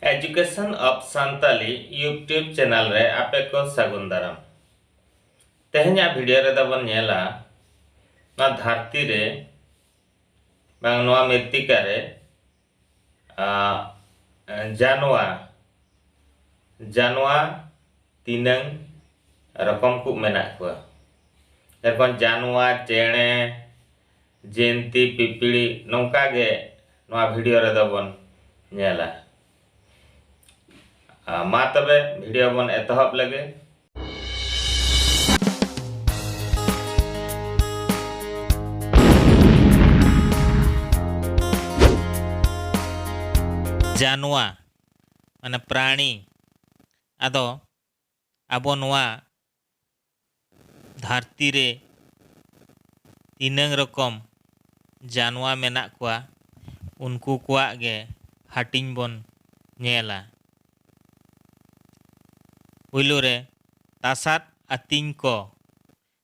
Education of Santali YouTube channel ᱨᱮ ᱟᱯᱮ ᱠᱚ ᱥᱟᱹᱜᱩᱱ ᱫᱟᱨᱟᱢ ᱛᱮᱦᱮᱧᱟᱜ ᱵᱷᱤᱰᱤᱭᱳ ᱨᱮᱫᱚ ᱵᱚᱱ ᱧᱮᱞᱟ ᱱᱚᱣᱟ ᱫᱷᱟᱹᱨᱛᱤ ᱨᱮ ᱵᱟᱝ ᱱᱚᱣᱟ ᱢᱤᱨᱛᱤᱠᱟ ᱨᱮ ᱡᱟᱱᱣᱟᱨ ᱡᱟᱱᱣᱟᱨ ᱛᱤᱱᱟᱹᱝ ᱨᱚᱠᱚᱢ ᱠᱚ ᱢᱮᱱᱟᱜ ᱠᱚᱣᱟ ᱮᱨᱯᱚᱨ ᱡᱟᱱᱣᱟᱨ ᱪᱮᱬᱮ ᱡᱮᱱᱛᱤ ᱯᱤᱯᱤᱲᱤ ᱱᱚᱝᱠᱟ ᱜᱮ ᱱᱚᱣᱟ ᱵᱷᱤᱰᱤᱭᱳ ᱨᱮᱫᱚ ᱵᱚᱱ ᱧᱮᱞᱟ ᱢᱟ ᱛᱚᱵᱮ ᱵᱷᱤᱰᱤᱭᱳ ᱵᱚᱱ ᱮᱛᱚᱦᱚᱵ ᱞᱮᱜᱮ ᱡᱟᱱᱣᱟ ᱢᱟᱱᱮ ᱯᱨᱟᱬᱤ ᱟᱫᱚ ᱟᱵᱚ ᱱᱚᱣᱟ ᱫᱷᱟᱹᱨᱛᱤ ᱨᱮ ᱛᱤᱱᱟᱹᱝ ᱨᱚᱠᱚᱢ ᱡᱟᱱᱣᱟ ᱢᱮᱱᱟᱜ ᱠᱚᱣᱟ ᱩᱱᱠᱩ ᱠᱚᱣᱟᱜ ᱜᱮ ᱦᱟᱹᱴᱤᱧ ᱵᱚᱱ ᱧᱮᱞᱟ᱾ ᱯᱩᱭᱞᱩ ᱨᱮ ᱛᱟᱥᱟᱫ ᱟᱹᱛᱤᱧ ᱠᱚ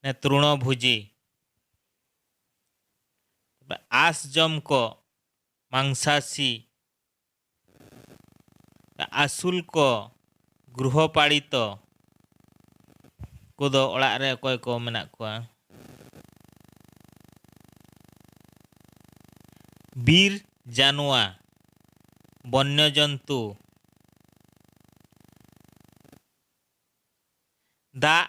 ᱱᱮ ᱛᱨᱩᱬᱚ ᱵᱷᱩᱡᱤ, ᱟᱸᱥ ᱡᱚᱢ ᱠᱚ ᱢᱟᱝᱥᱟᱥᱤ ᱟᱹᱥᱩᱞ ᱠᱚ ᱜᱨᱩᱦᱚ ᱯᱟᱲᱤᱛᱚ ᱠᱚᱫᱚ ᱚᱲᱟᱜ ᱨᱮ ᱚᱠᱚᱭ ᱠᱚ ᱢᱮᱱᱟᱜ ᱠᱚᱣᱟ ᱵᱤᱨ ᱡᱟᱱᱣᱟ ᱵᱚᱱᱱᱚ ᱡᱚᱱᱛᱩ ᱫᱟᱜ